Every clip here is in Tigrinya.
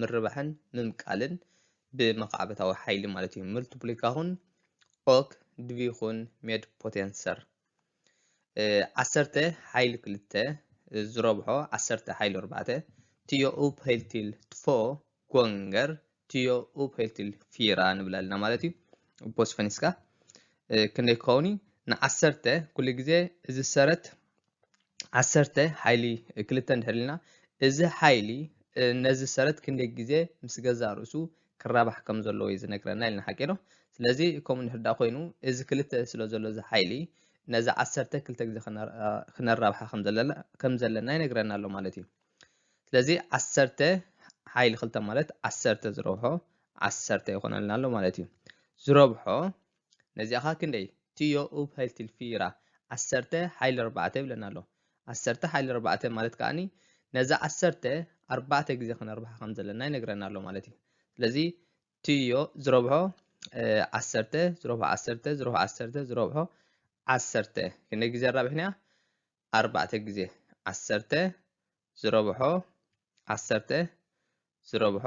ምርባሕን ምምቃልን ብመኻዕበታዊ ሓይሊ ማለት እዩ። ምልትፕሊካኹን ኦክ ድቪኹን ሜድ ፖቴንሰር ዓሰርተ ሓይሊ ክልተ ዝረብሖ ዓሰርተ ሓይሊ ኣርባዕተ ትዮ ኡፕ ሄልቲል ትፎ ጎንገር ትዮ ኡፕ ሄልቲል ፊራ ንብል ኣለና ማለት እዩ። ቦስፈኒስካ ክንደይ ክኸውን እዩ? ንዓሰርተ ኩሉ ግዜ እዚ ሰረት ዓሰርተ ሓይሊ ክልተ እንድሕር ኢልና እዚ ሓይሊ ነዚ ሰረት ክንደይ ግዜ ምስ ገዛ ርእሱ ክራባሕ ከም ዘለዎ እዩ ዝነግረና ኢልና ሓቂ ዶ ስለዚ ከምኡ እንድሕር ዳ ኮይኑ እዚ ክልተ ስለ ዘሎ እዚ ሓይሊ ነዚ ዓሰርተ ክልተ ግዜ ክነራብሓ ከም ዘለና ይነግረና ኣሎ ማለት እዩ ስለዚ ዓሰርተ ሓይሊ ክልተ ማለት ዓሰርተ ዝረብሖ ዓሰርተ ይኾነልና ኣሎ ማለት እዩ ዝረብሖ ነዚኣኻ ክንደይ ትዮ ኡብ ሀይል ትልፊ ይራ ዓሰርተ ሀይል ኣርባዕተ ይብለና ኣሎ ዓሰርተ ሀይል ኣርባዕተ ማለት ከኣኒ ነዛ ዓሰርተ ኣርባዕተ ግዜ ክነርብሓ ከም ዘለና ይነግረና ኣሎ ማለት እዩ ስለዚ ትዮ ዝረብሖ ዓሰርተ ዝረብሖ ዓሰርተ ዝረብሖ ዓሰርተ ዝረብሖ ዓሰርተ ክንደይ ግዜ ኣራብሕና ኣርባዕተ ግዜ ዓሰርተ ዝረብሖ ዓሰርተ ዝረብሖ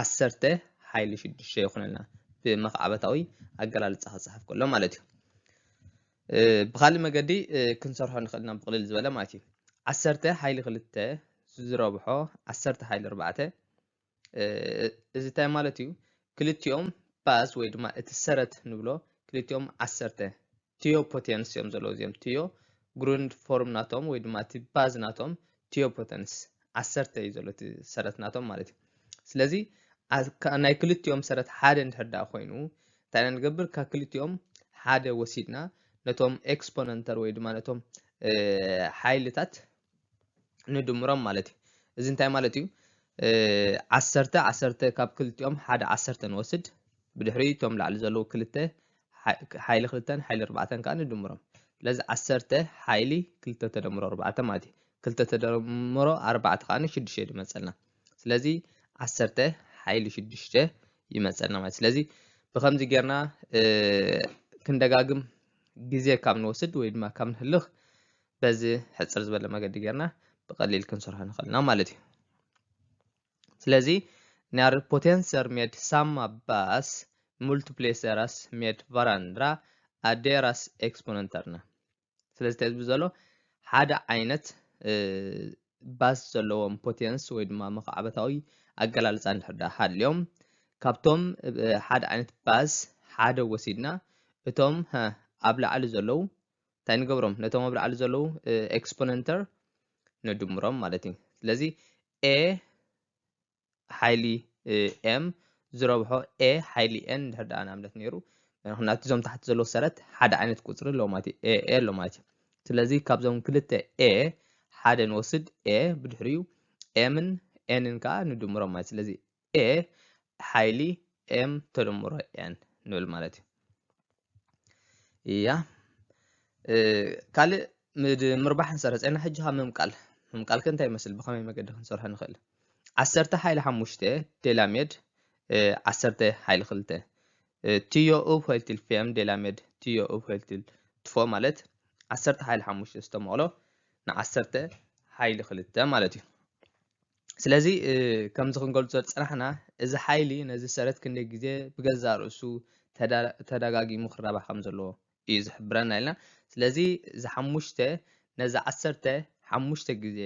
ዓሰርተ ሓይሊ ሽዱሽተ ይኹነልና ብመኽዓበታዊ ኣገላልፃ ክፅሓፍ ከሎ ማለት እዩ ብካልእ መገዲ ክንሰርሖ ንኽእል ኢና ብቕልል ዝበለ ማለት እዩ ዓሰርተ ሓይሊ ክልተ ዝረብሖ ዓሰርተ ሓይሊ ኣርባዕተ እዚ እንታይ ማለት እዩ ክልቲኦም ባስ ወይ ድማ እቲ ሰረት ንብሎ ክልቲኦም ዓሰርተ ቲዮ ፖቴንስ እዮም ዘለዉ እዚኦም ቲዮ ግሩንድ ፎርም ናቶም ወይ ድማ እቲ ባዝ ናቶም ቲዮ ፖቴንስ ዓሰርተ እዩ ዘሎ እቲ ሰረት ናቶም ማለት እዩ ስለዚ ናይ ክልቲኦም ሰረት ሓደ እንድሕር ዳ ኮይኑ እንታይ ኢና ንገብር ካብ ክልቲኦም ሓደ ወሲድና ነቶም ኤክስፖነንተር ወይ ድማ ነቶም ሓይልታት ንድምሮም ማለት እዩ። እዚ እንታይ ማለት እዩ? ዓሰርተ ዓሰርተ ካብ ክልቲኦም ሓደ ዓሰርተ ንወስድ ብድሕሪ እቶም ላዕሊ ዘለዉ ክልተ ሓይሊ ክልተን ሓይሊ ኣርባዕተን ከዓ ንድምሮም ስለዚ ዓሰርተ ሓይሊ ክልተ ተደምሮ ኣርባዕተ ማለት እዩ ክልተ ተደምሮ ኣርባዕተ ከዓ ሽዱሽተ ድመፀልና ስለዚ ዓሰርተ ሓይሊ ሽዱሽተ ይመፀልና ማለት ስለዚ ብከምዚ ጌርና ክንደጋግም ግዜ ካብ ንወስድ ወይ ድማ ካብ ንህልኽ በዚ ሕጽር ዝበለ መገዲ ጌርና ብቐሊል ክንሰርሖ ንኽእል ኢና ማለት እዩ ስለዚ ናር ፖቴንሰር ሜድ ሳማ ባስ ሙልቲፕሌሰራስ ሜድ ቫራንድራ ኣዴራስ ኤክስፖነንተርና ስለዚ ተዝብ ዘሎ ሓደ ዓይነት ባስ ዘለዎም ፖቴንስ ወይ ድማ መኽዓበታዊ ኣገላልፃ እንድሕዳ ሃልዮም ካብቶም ሓደ ዓይነት ባስ ሓደ ወሲድና እቶም ኣብ ላዕሊ ዘለዉ እንታይ ንገብሮም ነቶም ኣብ ላዕሊ ዘለዉ ኤክስፖነንተር ንድምሮም ማለት እዩ ስለዚ ኤ ሓይሊ ኤም ዝረብሖ ኤ ሓይሊ ኤን ድሕር ደኣ ንኣብነት ነይሩ ምክንያቱ እዞም ታሕቲ ዘለዎ ሰረት ሓደ ዓይነት ቁፅሪ ኣለዎ ማለት እዩ ኤ ኣለዎ ማለት እዩ ስለዚ ካብዞም ክልተ ኤ ሓደ ንወስድ ኤ ብድሕሪኡ ኤምን ኤንን ከዓ ንድምሮም ማለት ስለዚ a ሓይሊ m ተደምሮ n ንብል ማለት እዩ እያ ካልእ ምርባሕ ንሰርሐፀና ሕጂ ካብ ምምቃል ምምቃል ከ እንታይ ይመስል ብኸመይ መገዲ ክንሰርሖ ንኽእል ዓሰርተ ሓይሊ ሓሙሽተ ዴላሜድ ዓሰርተ ሓይሊ ክልተ ትዮ ኡብ ኮይልትል ፌም ዴላሜድ ትዮ ኡብ ኮይልትል ትፎ ማለት ዓሰርተ ሓይሊ ሓሙሽተ ዝተመቕሎ ንዓሰርተ ሓይሊ ክልተ ማለት እዩ ስለዚ ከምዚ ክንገልጾ ዝጽናሕና እዚ ሓይሊ ነዚ ሰረት ክንደይ ግዜ ብገዛእ ርእሱ ተደጋጊሙ ክራባሕ ከም ዘለዎ እዩ ዝሕብረና ኢልና ስለዚ እዚ ሓሙሽተ ነዚ ዓሰርተ ሓሙሽተ ግዜ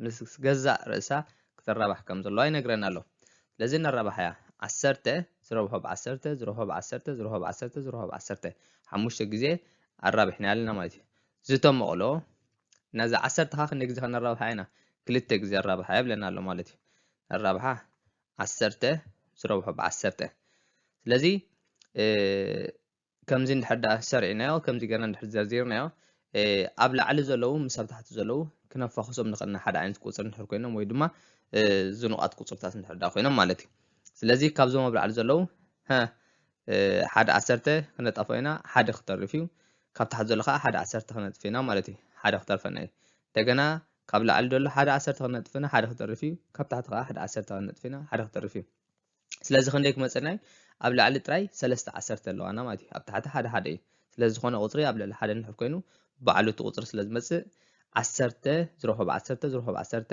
ምስ ገዛእ ርእሳ ክትራባሕ ከም ዘለዋ ይነግረና ኣሎ ስለዚ ንራባሕ እያ ዓሰርተ ዝረብሖ ብዓሰርተ ዝረብሖ ብዓሰርተ ዝረብሖ ብዓሰርተ ዝረብሖ ብዓሰርተ ሓሙሽተ ግዜ ኣራቢሕና ኣለና ማለት እዩ ዝተመቕሎ ነዚ ዓሰርተኻ ክንደይ ግዜ ከነራብሓ ኢና? ክልተ ግዜ ኣራብሓ የብለና ኣሎ ማለት እዩ። ኣራብሓ ዓሰርተ ዝረብሖ ብዓሰርተ ስለዚ ከምዚ እንድሕር ዳ ሰሪዕናዮ ከምዚ ገርና እንድሕር ዘርዚርናዮ ኣብ ላዕሊ ዘለዉ ምስ ኣብ ታሕቲ ዘለዉ ክነፋኽሶም ንኽእል ኢና ሓደ ዓይነት ቁፅሪ እንድሕር ኮይኖም ወይ ድማ ዝኑቓት ቁፅርታት እንድሕር ዳ ኮይኖም ማለት እዩ ስለዚ ካብዞም ኣብ ላዕሊ ዘለዉ ሓደ ዓሰርተ ክነጣፎ ኢና ሓደ ክተርፍ እዩ ካብ ታሕቲ ዘሎ ከዓ ሓደ ዓሰርተ ክነጥፍ ኢና ማለት እዩ ሓደ ክተርፈና እዩ እንደገና ካብ ላዕሊ ዘሎ ሓደ ዓሰርተ ክነጥፍ ኢና ሓደ ክተርፍ እዩ ካብ ታሕቲ ከዓ ሓደ ዓሰርተ ክነጥፍ ኢና ሓደ ክተርፍ እዩ ስለዚ ክንደይ ክመፀና እዩ ኣብ ላዕሊ ጥራይ ሰለስተ ዓሰርተ ኣለዋና ማለት እዩ ኣብ ታሕቲ ሓደ ሓደ እዩ ስለዚ ዝኾነ ቁፅሪ ኣብ ልዕሊ ሓደ ንድሕር ኮይኑ ባዕሉ እቲ ቁፅሪ ስለ ዝመፅእ ዓሰርተ ዝረኸብ ዓሰርተ ዝረኸብ ዓሰርተ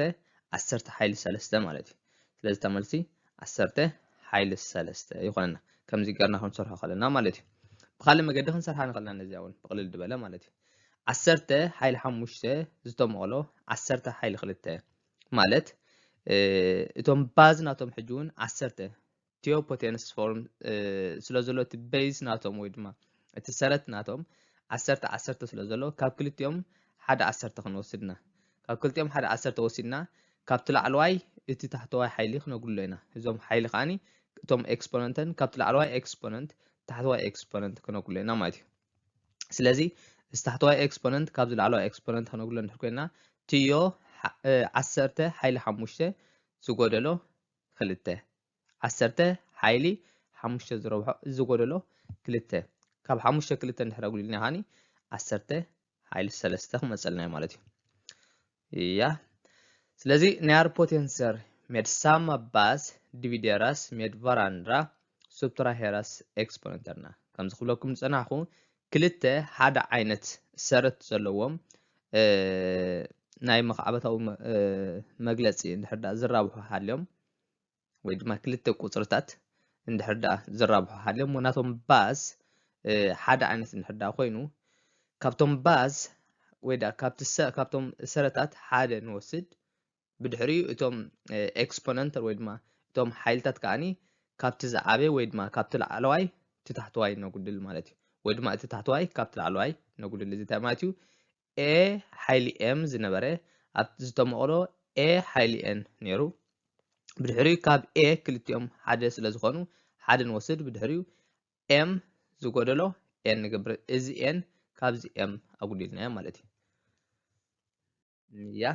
ዓሰርተ ሓይሊ ሰለስተ ማለት እዩ ስለዚ እታ መልሲ ዓሰርተ ሓይልስ ሰለስተ ይኾነና ከምዚ ገርና ክንሰርሖ ከለና ማለት እዩ ብካልእ መገዲ ክንሰርሓ ንኽእልና ነዚኣ እውን ብቕልል ዝበለ ማለት እዩ ዓሰርተ ሓይሊ ሓሙሽተ ዝተመቕሎ ዓሰርተ ሓይሊ ክልተ ማለት እቶም ባዝ ናቶም ሕጂ እውን ዓሰርተ ቲዮ ፖቴንስ ፎርም ስለ ዘሎ እቲ ቤዝ ናቶም ወይ ድማ እቲ ሰረት ናቶም ዓሰርተ ዓሰርተ ስለ ዘሎ ካብ ክልቲኦም ሓደ ዓሰርተ ክንወስድና ካብ ክልቲኦም ሓደ ዓሰርተ ወሲድና ካብቲ ላዕለዋይ እቲ ታሕተዋይ ሓይሊ ክነጉሎ ኢና እዞም ሓይሊ ከዓኒ እቶም ኤክስፖነንተን ካብቲ ላዕለዋይ ኤክስፖነንት ታሕተዋይ ኤክስፖነንት ክነጉሎ ኢና ማለት እዩ ስለዚ እዚ ታሕተዋይ ኤክስፖነንት ካብዚ ላዕለዋይ ኤክስፖነንት ክነጉሎ እንድሕር ኮይና ትዮ ዓሰርተ ሓይሊ ሓሙሽተ ዝጎደሎ ኽልተ። ዓሰርተ ሓይሊ ሓሙሽተ ዝረብሖ እዚ ጎደሎ ክልተ ካብ ሓሙሽተ ክልተ እንድሕር ኣጉዲልና ከዓኒ ዓሰርተ ሓይሊ ሰለስተ ክመፀልና እዩ ማለት እዩ እያ ስለዚ ናይ ኣር ፖቴንሰር med samma bas divideras med varandra subtraheras exponenterna ከምዚ ክብለኩም ዝፀናሕኩ ክልተ ሓደ ዓይነት ሰረት ዘለዎም ናይ መኻዕበታዊ መግለጺ እንድሕር ደኣ ዝራብሑ ሃልዮም ወይ ድማ ክልተ ቁጽርታት እንድሕር ደኣ ዝራብሑ ሃልዮም ናቶም ባዝ ሓደ ዓይነት እንድሕር ደኣ ኮይኑ ካብቶም ባዝ ወይ ደኣ ካብቶም ሰረታት ሓደ ንወስድ ብድሕሪኡ እቶም ኤክስፖነንተር ወይ ድማ እቶም ሓይልታት ከዓኒ ካብቲ ዝዓበየ ወይ ድማ ካብቲ ላዕለዋይ እቲ ታሕተዋይ ነጉድል ማለት እዩ ወይ ድማ እቲ ታሕተዋይ ካብቲ ላዕለዋይ ነጉድል እዚ እንታይ ማለት እዩ ኤ ሓይሊ ኤም ዝነበረ ኣብ ዝተመቕሎ ኤ ሓይሊ ኤን ነይሩ ብድሕሪኡ ካብ ኤ ክልቲኦም ሓደ ስለ ዝኾኑ ሓደ ንወስድ ብድሕሪኡ ኤም ዝጎደሎ ኤን ንገብር እዚ ኤን ካብዚ ኤም ኣጉዲልናዮ ማለት እዩ ያ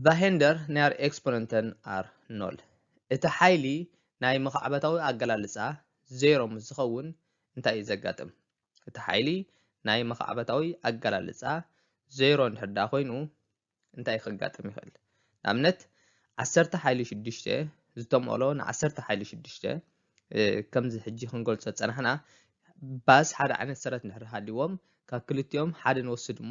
ቫሄንደር ኒያር ኤክስፖነንተን ኣር ኖል። እቲ ሓይሊ ናይ መኻዕበታዊ ኣገላልጻ ዜሮ ምስ ዝኸውን እንታይ እዩ ዘጋጥም? እቲ ሓይሊ ናይ መኻዕበታዊ ኣገላልጻ ዜሮ እንድሕር ደኣ ኮይኑ እንታይ ከጋጥም ይኽእል? ንኣብነት ዓሰርተ ሓይሊ ሽዱሽተ ዝተመቕሎ ንዓሰርተ ሓይሊ ሽዱሽተ ከምዚ ሕጂ ክንገልጾ ዝጸናሕና ባስ ሓደ ዓይነት ሰረት እንድሕር ሃልዎም ካብ ክልቲኦም ሓደ ንወስድ እሞ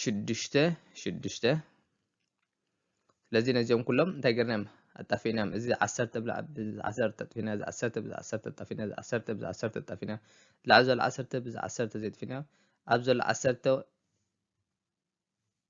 ሽዱሽተ ሽዱሽተ ስለዚ ነዚኦም ኩሎም እንታይ ገርናዮም ኣጣፊናዮም እዚ ዓሰርተ ብላዕ ብዚ ዓሰርተ ጠጥፊና እዚ ዓሰርተ ብዚ ዓሰርተ ጠፊና እዚ ዓሰርተ ብዚ ዓሰርተ ጠፊና ላዕ ዘሎ ዓሰርተ ብዚ ዓሰርተ ዘይጥፊና ኣብ ዘሎ ዓሰርተ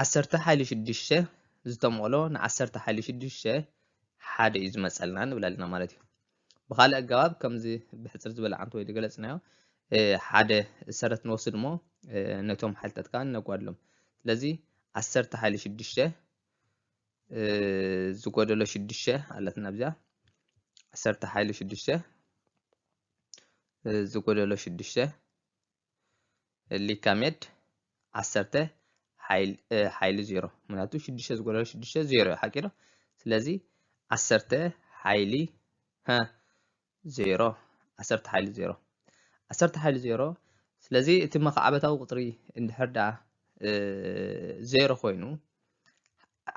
ዓሰርተ ሓይሊ ሽዱሽተ ዝተመቕሎ ንዓሰርተ ሓይሊ ሽዱሽተ ሓደ እዩ ዝመፀልና ንብል ኣለና ማለት እዩ ብካልእ ኣገባብ ከምዚ ብሕፅር ዝበለ ዓንት ወይ ዝገለፅናዮ ሓደ ሰረት ንወስድ እሞ ነቶም ሓይልታት ከዓ ነጓድሎም ስለዚ ዓሰርተ ሓይሊ ሽዱሽተ ዝጎደሎ ሽዱሽተ ኣለትና ብዚኣ ዓሰርተ ሓይሊ ሽዱሽተ ዝጎደሎ ሽዱሽተ ሊካ ሜድ ዓሰርተ ሓይሊ ዜሮ ምክንያቱ ሽዱሽተ ዝጎደሎ ሽዱሽተ ዜሮ እዩ ሓቂ ዶ ስለዚ ዓሰርተ ሓይሊ ዜሮ ዓሰርተ ሓይሊ ዜሮ ዓሰርተ ሓይሊ ዜሮ ስለዚ እቲ መካዕበታዊ ቁፅሪ እንድሕር ዳ ዜሮ ኮይኑ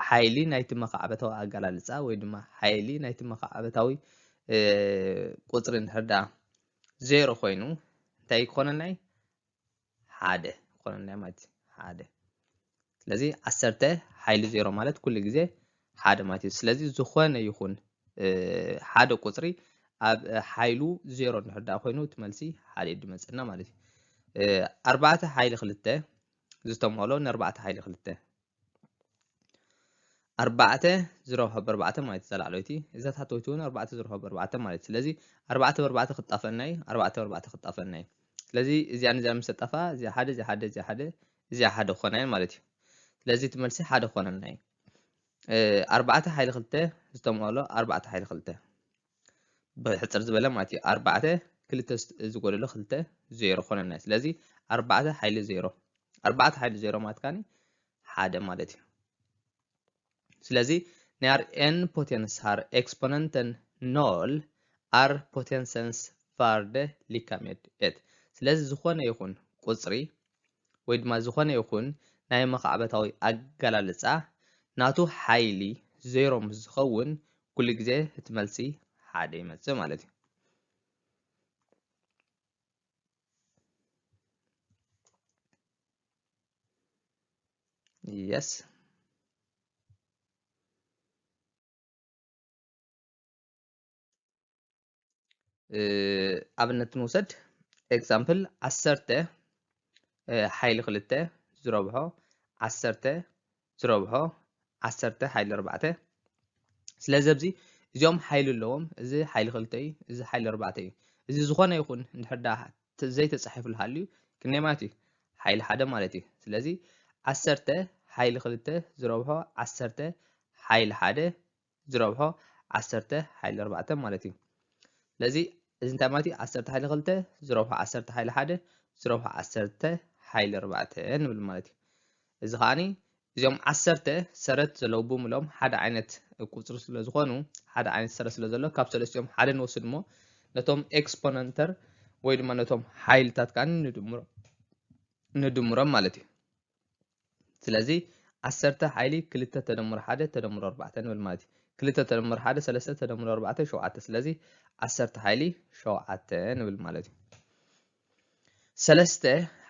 ሓይሊ ናይቲ መኻዕበታዊ ኣገላልጻ ወይ ድማ ሓይሊ ናይቲ መኻዕበታዊ ቁጽሪ እንድሕር ደኣ ዜሮ ኮይኑ እንታይ ክኾነልና እዩ ሓደ ክኾነልና እዩ ማለት እዩ ሓደ ስለዚ ዓሰርተ ሓይሊ ዜሮ ማለት ኩሉ ግዜ ሓደ ማለት እዩ ስለዚ ዝኾነ ይኹን ሓደ ቁፅሪ ኣብ ሓይሉ ዜሮ እንድሕር ደኣ ኮይኑ እቲ መልሲ ሓደ እዩ ድመፀና ማለት እዩ ኣርባዕተ ሓይሊ ክልተ ዝተመሎ ንኣርባዕተ ሓይሊ ክልተ ኣርባዕተ ዝረብሖ በርባዕተ ማለት ዘላዕለይቲ እዛ ታሕተወይቲ እውን ኣርባዕተ ዝረብሖ በርባዕተ ማለት ስለዚ ኣርባዕተ በርባዕተ ክጣፈና እዩ ኣርባዕተ በርባዕተ ክጣፈና እዩ ስለዚ እዚኣ ንዚኣ ምስ ተጣፋ እዚኣ ሓደ እዚኣ ሓደ እዚኣ ሓደ እዚኣ ሓደ ክኾና እየን ማለት እዩ ስለዚ እቲ መልሲ ሓደ ክኾነና እዩ ኣርባዕተ ሓይሊ ክልተ ዝተምኦሎ ኣርባዕተ ሓይሊ ክልተ ብሕጽር ዝበለ ማለት እዩ ኣርባዕተ ክልተ ዝጎደሎ ክልተ ዜሮ ኮነና ስለዚ ኣርባዕተ ሓይሊ ዜሮ ኣርባዕተ ሓይሊ ዜሮ ማለት ካኒ ሓደ ማለት እዩ ስለዚ ናይ ኣር ኤን ፖቴንስ ሃር ኤክስፖነንተን ኖል ኣር ፖቴንሰንስ ቫርደ ሊካሜድ ኤት ስለዚ ዝኾነ ይኹን ቁፅሪ ወይ ድማ ዝኾነ ይኹን ናይ መኻዕበታዊ ኣገላልጻ ናቱ ሓይሊ ዜሮ ምስ ዝኸውን ኩሉ ግዜ እቲ መልሲ ሓደ ይመጽእ ማለት እዩ። Yes. ኣብነት ንውሰድ ኤግዛምፕል ዓሰርተ ሓይሊ ክልተ ዝረብሖ ዓሰርተ ዝረብሖ ዓሰርተ ሓይሊ ኣርባዕተ ስለዚ ኣብዚ እዚኦም ሓይሊ ኣለዎም እዚ ሓይሊ ክልተ እዩ እዚ ሓይሊ ኣርባዕተ እዩ እዚ ዝኾነ ይኹን እንድሕር ዳ ዘይተፃሒፍሉ ሃልዩ ክንደይ ማለት እዩ ሓይሊ ሓደ ማለት እዩ ስለዚ ዓሰርተ ሓይሊ ክልተ ዝረብሖ ዓሰርተ ሓይሊ ሓደ ዝረብሖ ዓሰርተ ሓይሊ ኣርባዕተ ማለት እዩ ስለዚ እዚ እንታይ ማለት እዩ ዓሰርተ ሓይሊ ክልተ ዝረብሖ ዓሰርተ ሓይሊ ሓደ ዝረብሖ ዓሰርተ ሓይሊ ኣርባዕተ ንብል ማለት እዩ እዚ ከዓኒ እዚኦም ዓሰርተ ሰረት ዘለዉ ብምሎም ሓደ ዓይነት ቁፅሪ ስለ ዝኾኑ ሓደ ዓይነት ሰረት ስለ ዘሎ ካብ ሰለስቲኦም ሓደ ንወስድ እሞ ነቶም ኤክስፖነንተር ወይ ድማ ነቶም ሓይልታት ከዓ ንድምሮም ንድምሮም ማለት እዩ ስለዚ ዓሰርተ ሓይሊ ክልተ ተደምሮ ሓደ ተደምሮ ኣርባዕተ ንብል ማለት እዩ ክልተ ተደምሮ ሓደ ሰለስተ ተደምሮ ኣርባዕተ ሸውዓተ ስለዚ ዓሰርተ ሓይሊ ሸውዓተ ንብል ማለት እዩ ሰለስተ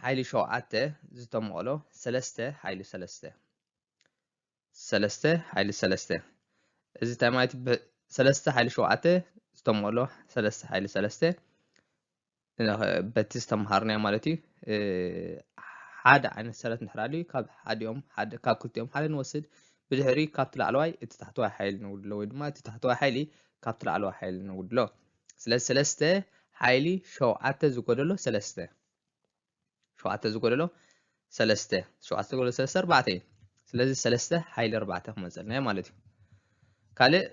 ሓይሊ ሸውዓተ ዝተመቐሎ ሰለስተ ሓይሊ ሰለስተ ሰለስተ ሓይሊ ሰለስተ እዚ እንታይ ማለት እዩ? ሰለስተ ሓይሊ ሸውዓተ ዝተመሎ ሰለስተ ሓይሊ ሰለስተ በቲ ዝተምሃርናዮ ማለት እዩ ሓደ ዓይነት ሰረት ንሕራሉ ካብ ሓዲኦም ካብ ክልቲኦም ሓደ ንወስድ ብድሕሪ ካብቲ ላዕለዋይ እቲ ታሕተዋይ ሓይሊ ንውድሎ ወይ ድማ እቲ ታሕተዋይ ሓይሊ ካብቲ ላዕለዋይ ሓይሊ ንውድሎ ስለዚ ሰለስተ ሓይሊ ሸውዓተ ዝጎደሎ ሰለስተ ሸውዓተ ዝጎደሎ ሰለስተ ሸውዓተ ዝጎደሎ ሰለስተ ኣርባዕተ እዩ ስለዚ ሰለስተ ሓይሊ ኣርባዕተ ክመፀልና እዩ ማለት እዩ ካልእ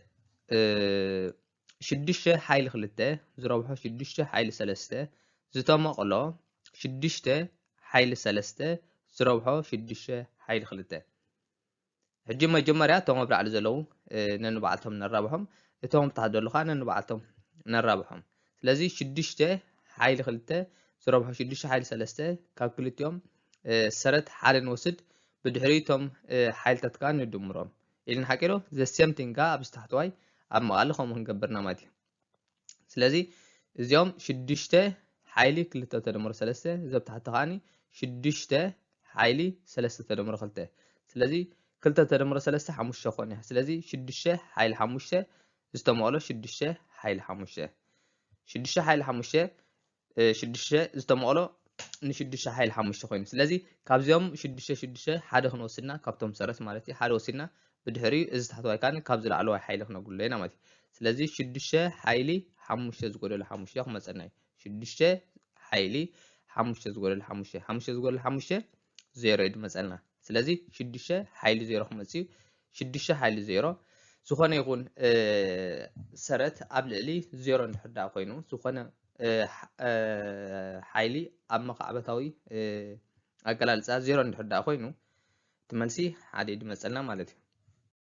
ሽዱሽተ ሓይሊ ክልተ ዝረብሖ ሽዱሽተ ሓይሊ ሰለስተ ዝተመቕሎ ሽዱሽተ ሓይሊ ሰለስተ ዝረብሖ ሽዱሽተ ሓይሊ ክልተ ሕጂ መጀመርያ እቶም ኣብ ላዕሊ ዘለዉ ነንባዕልቶም ነራብሖም እቶም ኣብ ታሕቲ ዘለዉ ከዓ ነንባዕልቶም ነራብሖም ስለዚ ሽዱሽተ ሓይሊ ክልተ ዝረብሖ ሽዱሽተ ሓይሊ ሰለስተ ካብ ክልቲኦም ሰረት ሓደ ንወስድ ብድሕሪ እቶም ሓይልታት ከዓ ንድምሮም ኢልና ሓቂዶ ዘ ሴም ቲንግ ከዓ ኣብዚ ታሕተዋይ ኣብ መቓሊ ከምኡ ክንገብርና ማለት እዩ ስለዚ እዚኦም ሽዱሽተ ሓይሊ ክልተ ተደምሮ ሰለስተ እዚ ኣብ ታሕቲ ከዓኒ ሽዱሽተ ሓይሊ ሰለስተ ተደምሮ ክልተ ስለዚ ክልተ ተደምሮ ሰለስተ ሓሙሽተ ኮን እያ ስለዚ ሽዱሽተ ሓይሊ ሓሙሽተ ዝተመቕሎ ሽዱሽተ ሓይሊ ሓሙሽተ ሽዱሽተ ሓይሊ ሓሙሽተ ሽዱሽተ ዝተመቕሎ ንሽዱሽተ ሓይል ሓሙሽተ ኮይኑ ስለዚ ካብዚኦም ሽዱሽተ ሽዱሽተ ሓደ ክንወስድና ካብቶም ሰረት ማለት እዩ ሓደ ወሲድና ብድሕሪ እዚ ታሕተዋይ ካን ካብ ዝለዓለዋይ ሓይሊ ክነጉሎ ኢና ማለት እዩ ስለዚ ሽዱሽተ ሓይሊ ሓሙሽተ ዝጎደሎ ሓሙሽተ ክመፀና እዩ ሽዱሽተ ሓይሊ ሓሙሽተ ዝጎደሎ ሓሙሽተ ሓሙሽተ ዝጎደሎ ሓሙሽተ ዜሮ እዩ ድመፀልና ስለዚ ሽዱሽተ ሓይሊ ዜሮ ክመፅ እዩ ሽዱሽተ ሓይሊ ዜሮ ዝኾነ ይኹን ሰረት ኣብ ልዕሊ ዜሮ እንድሕር ዳኣ ኮይኑ ዝኾነ ሓይሊ ኣብ መኻዕበታዊ ኣገላልፃ ዜሮ እንድሕር ዳኣ ኮይኑ እቲ መልሲ ሓደ ድመፀልና ማለት እዩ